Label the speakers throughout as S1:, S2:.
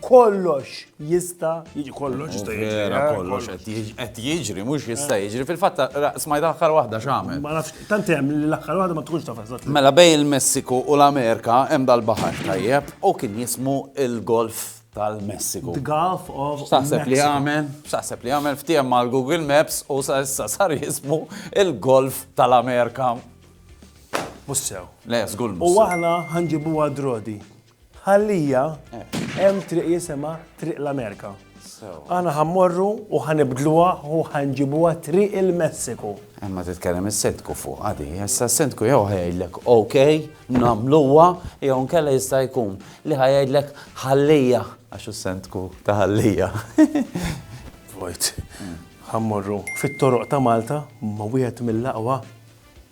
S1: kollox jista jiġi kollox jista jiġi. Vera eh, kollox qed jiġri, mhux jista' jiġri. Fil-fatt smajt l-aħħar waħda x'għamel. Ma nafx tant hemm li l-aħħar waħda ma tkunx taf eżatt. Mela bej il-Messiku u l-Amerika hemm dal-baħar tajjeb u kien jismu il-Golf tal-Messiku. The Gulf of Saħseb li għamel, saħseb li għamel ftiem mal Google Maps u sa issa sar jismu il-Golf tal-Amerika. Mussew. Le, żgur. U aħna ħanġibuha drodi. Bħalija hemm triq jisimha Triq l-Amerika. Aħna ħammorru u ħanibdluha u ħanġibuha Triq il-Messiku. Imma eh, titkellem is-sendku fuq għadi, issa s-sendku jew ħajgħidlek ok, nagħmluha, jew nkella jista' jkun li ħajgħidlek ħallija għax s-sendku ta' ħallija. Vojt, ħammorru fit-toroq ta' Malta ma wieħed mill-aqwa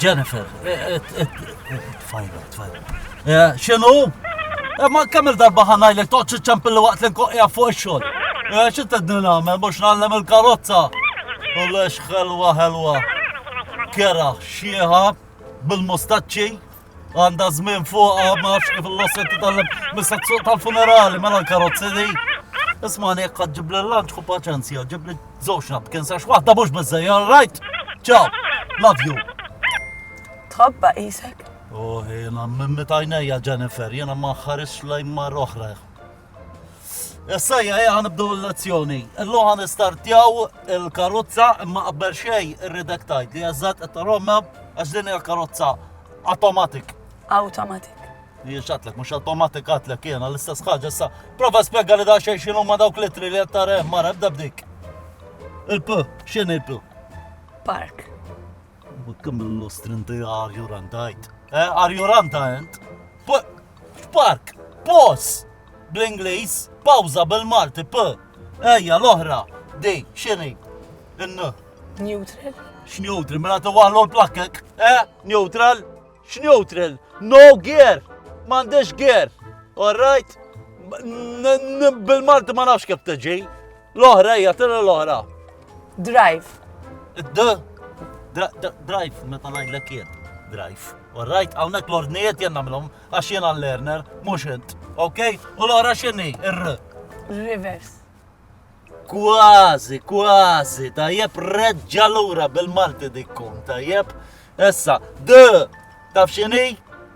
S1: Jennifer, tfajla, tfajla. Xinu? Ma kemm il-darba ħanajlek toqgħod iċċempilli waqt li nkoqja fuq ix-xogħol. Xi tedni nagħmel mhux nagħllem il-karozza. U lex ħelwa ħelwa. Kera xieħa bil-mustaċċi. Għandha żmien fuqha ma nafx kif l-osset titgħallem mista tsuq tal-funerali mela l-karozzi di. Ismani jekk qed ġibli l-lunch ku paċenzja, ġibli żewġ napkin sax waħda mhux biżejja, all right? Ciao, love you. Tħobba qisek. Oh, jiena mimmi tajnejja Jennifer, jiena ma ħarisx lejn mar oħra. Essajja, eja ħanibdu l-lezzjoni. Illum ħan istartjaw il-karozza imma qabel xej irridek tajt li jazzat qed taromma għax din hija karozza automatic. Automatic. Li xatlek, mhux automatic għatlek jiena l-istess ħaġa issa. Prova spjega li da xejn x'inhu ma dawk litri li qed tareh mara ebda bdik. Il-p, x'in il-p? Park. Kemm l-lustrinti għarjurantajt. Eh, għarjuranta int? Park, pos! bl-Ingliż, pawża bil-Malti, p. Ejja, l-oħra, di, x'inhi? In. Neutral. X'neutral, mela tiwaħlu l-plakkek, eh? Neutral? X'neutral? No gear! M'għandix gear! All right? Bil-Malti ma nafx kif tiġi. L-oħra hija tira l-oħra. Drive. D. Drive, meta ngħidlek jien. Drive. Alright, hawnhekk l-ordnijiet jien nagħmlhom għax jien għall-learner, mhux int. Ok? U l-oħra x'inhi? Ir. Rivers. Kważi, kważi, tajjeb reġġa lura bil-Malti dikkun, tajjeb. Issa, D. Taf x'inhi?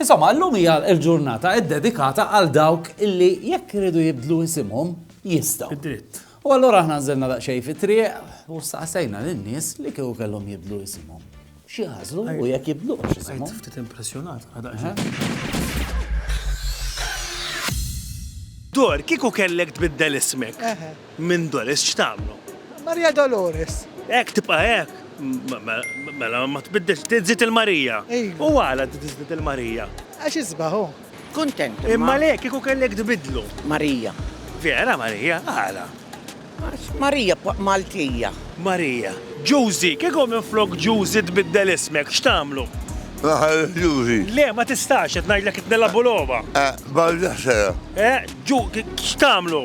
S1: Insomma, illum hija l-ġurnata ddedikata għal dawk illi jekk iridu jibdlu isimhom, jistgħu. Bid-dritt. U allura aħna nżilna daqsxejn fit-triq u staqsejna lin-nies li kieku kellhom jibdlu isimhom. X'jażlu u jekk jibdlux Għajt isimhom. ftit impressjonat għal daqsxejn. Dor, kieku kellek tbiddel ismek, Minn Doris x'tagħmlu? Maria Dolores. Hekk tibqa' hekk? Mela ma tbiddilx, tiżżid il-Marija. U għala tiżżid il-Marija? Għax isbaħ hu. Kuntent. Imma le kieku kellek tbiddlu. Marija. Vera Marija? Għala? Għax Marija Maltija. Marija. Ġużi, kieku minflok Ġużi tbiddel ismek, x'tagħmlu? Naħal Ġużi. Le, ma tistax, qed ngħidlek qed nilagħbu logħba. Barda sera. X'tagħmlu?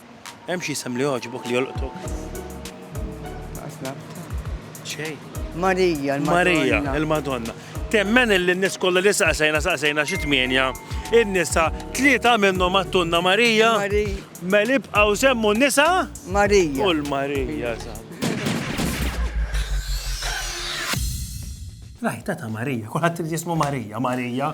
S1: Hemm xi isem li jogħġbok li jolqtok? Laqas nafha. Xejn. Marija, il-Madonna. Marija, il-Madonna. Temmen illi n-nies kollha li saqsejna saqsejna xi tmienja, in-nisa tlieta minnhom għattunna Marija. Marija. Mela ibqgħu semmu n-nisa? Marija. U l-Marija, saħ. Rajta ta' Marija, kulħadd irid jismu Marija, Marija,